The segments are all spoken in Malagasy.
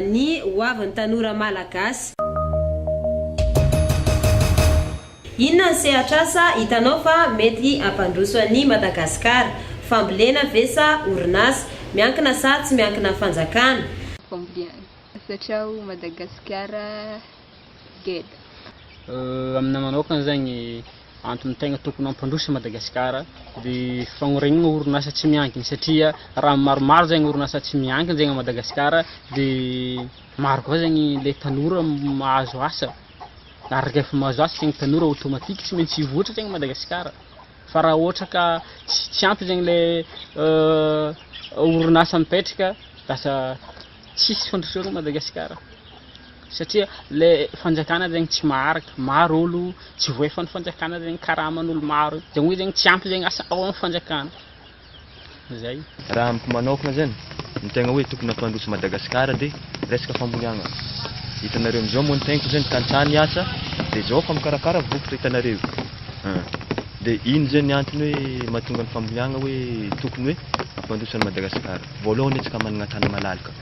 ny hoavin'ny tanora malagasy. Inona ny sehatr'asa hitanao fa mety hampandroso an'i Madagasikara? Fambolena ve sa orinasa? Miankina sa tsy miankina fanjakana? Misaotra aho Madagasikara geda. Aminay manokana zegny antony tegna tokony hampandroso Madagasikara de fagnorenana orinasa tsy miankina satria raha maromaro zegny orinasa tsy miankina zegny Madagasikara de maro koa zegny le tanora mahazo asa ary rehefa mahazo asa zegny tanora automatique tsy maintsy hivoatra zegny Madagasikara fa raha ohatra ka tsy ampy zegny le orinasa mipetraka lasa Tsisy fandrosoana Madagasikara satria le fanjakana zegny tsy maharaka, maro olo tsy voaefan'ny fanjakana zegny, karaman'olo maro, zegny hoe zegny tsy ampy zegny asa ao amin'ny fanjakana, zay. Raha amiko manokana zany, ny tegna hoe tokony hampandroso Madagasikara de resaka famboleagna, hitanareo amizao moa ny tegniko zany tantsaha ny asa de zao efa mikarakara vokatra hitanareo an! de ino zany ny antony hoe mahatonga ny famboleagna hoe tokony hoe hampandroso an'i Madagasikara. Voalohany antsika manana tany malalaka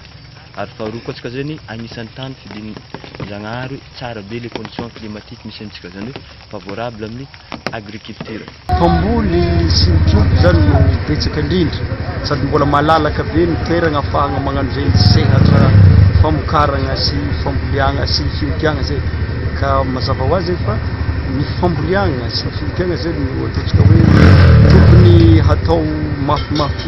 ary faharoa koa antsika zany agnisan'ny tany fidin-Jagnahary hoe tsara be le condition climatique misy antsika zany hoe favorable amin'ny agriculture. Mpamboly sy ny trompo zany no betsaka indrindra sady mbola malalaka be ny toeragna afahagna magnano zegny sehatra famokaragna sy famboleagna sy fiompiagna zegny ka mazava ho azy fa ny famboleagna sy ny fiompiagna zegny no ataontsika hoe tokony hatao mafimafy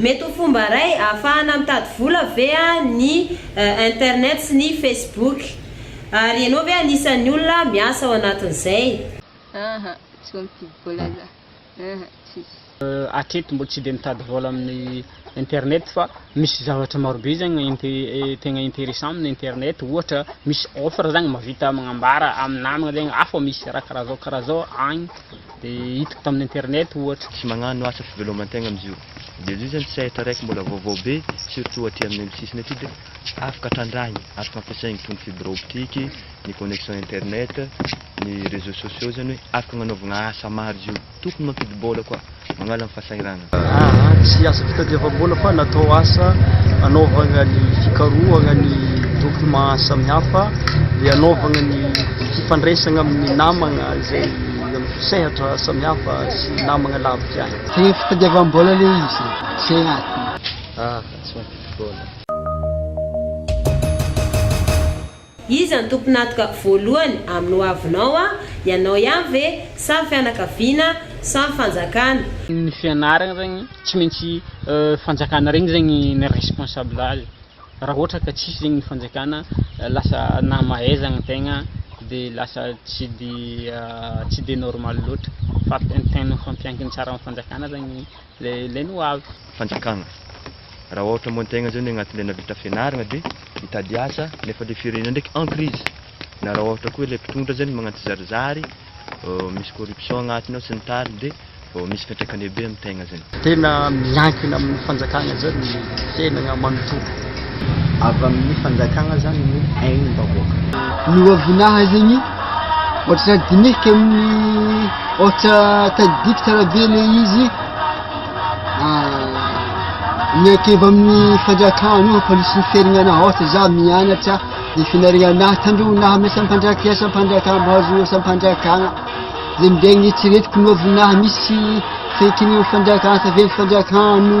Mety ho fomba iray ahafahana mitady vola ve ny internet sy ny Facebook? Ary ianao ve anisan'ny olona miasa ao anatin'izay? Aha, tsy ho mifidy vola za. Aha, tsisy. Hatreto mbola tsy dia mitady vola amin'ny internet fa misy zavatra marobe zany tegna interessant amin'ny internet ohatra misy offre zany mahavita magnambara amin'ny namagna zany afa misy raha karaha zao karaha zao agny. Dia hitako tamin'ny internet ohatra. Tsy magnano asa fivelomantegna amzio. Dia zio zany sehatra raiky mbola vaovao be surtout aty aminay am sisiny aty dia afaka trandrahigny, afaka ampiasaigny toy ny fibre optique, ny connexion internet, ny reseaux sociaux zany hoe afaka agnanaovagna asa maro zio. Tokony mampidi-bola koa magnala ny fasahiranana. Aa, tsy asa fitadiavam-bola fa natao asa hanaovana ny fikarohana ny documents samihafa, dia hanaovana ny fifandraisana amin'ny namana izay amin'ny sehatra samihafa sy namana lavitra ihany. Dia fitadiavam-bola ilay izy e! Izay antony. Aa, tsy mampidi-bola. Iza no tompon'atoka voalohany amin'ny hoavinao an? Ianao ihany ve? Sa ny fianakaviana? Sa ny fanjakana? Ny fianarana zegny tsy maintsy fanjakana regny zegny ny responsable azy, raha ohatra ka tsisy zegny ny fanjakana lasa nahamahaizagna tegna de lasa tsy de tsy de normal loatra fa ny tegna fampiankina tsara amin'ny fanjakana zany. Ilay ny ho avy. Fanjakana. Raha ohatra moa tegna zany agnatin'ilay nahavita fianaragna de mitady asa nefa le firenena ndraiky en crise, na raha ohatra koa ilay mpitondra zany magnano tsizarizary, misy corruption agnatiny ao sy ny tariny de vao misy fiantraikany be amy tegna zany. Tena miankina amin'ny fanjakana zany ny fiainagna manontolo. avy amin'ny fanjakana zany ny ain'ny vahoaka. Ny ohabonaha zegny ohatran'ny dinihiko amin'ny ohatra tadidiko tsara be le izy miankevy amin'ny fanjakana ohatra misy ny fiarinana ohatra za mianatra ny finarinana tandreo na amin'ny asam-panjaka asam-panjakana mahazo asam-panjakana zay ndray ny eritreretiko ny ohabonaha misy fiankinan'ny fanjakana tavela fanjakana no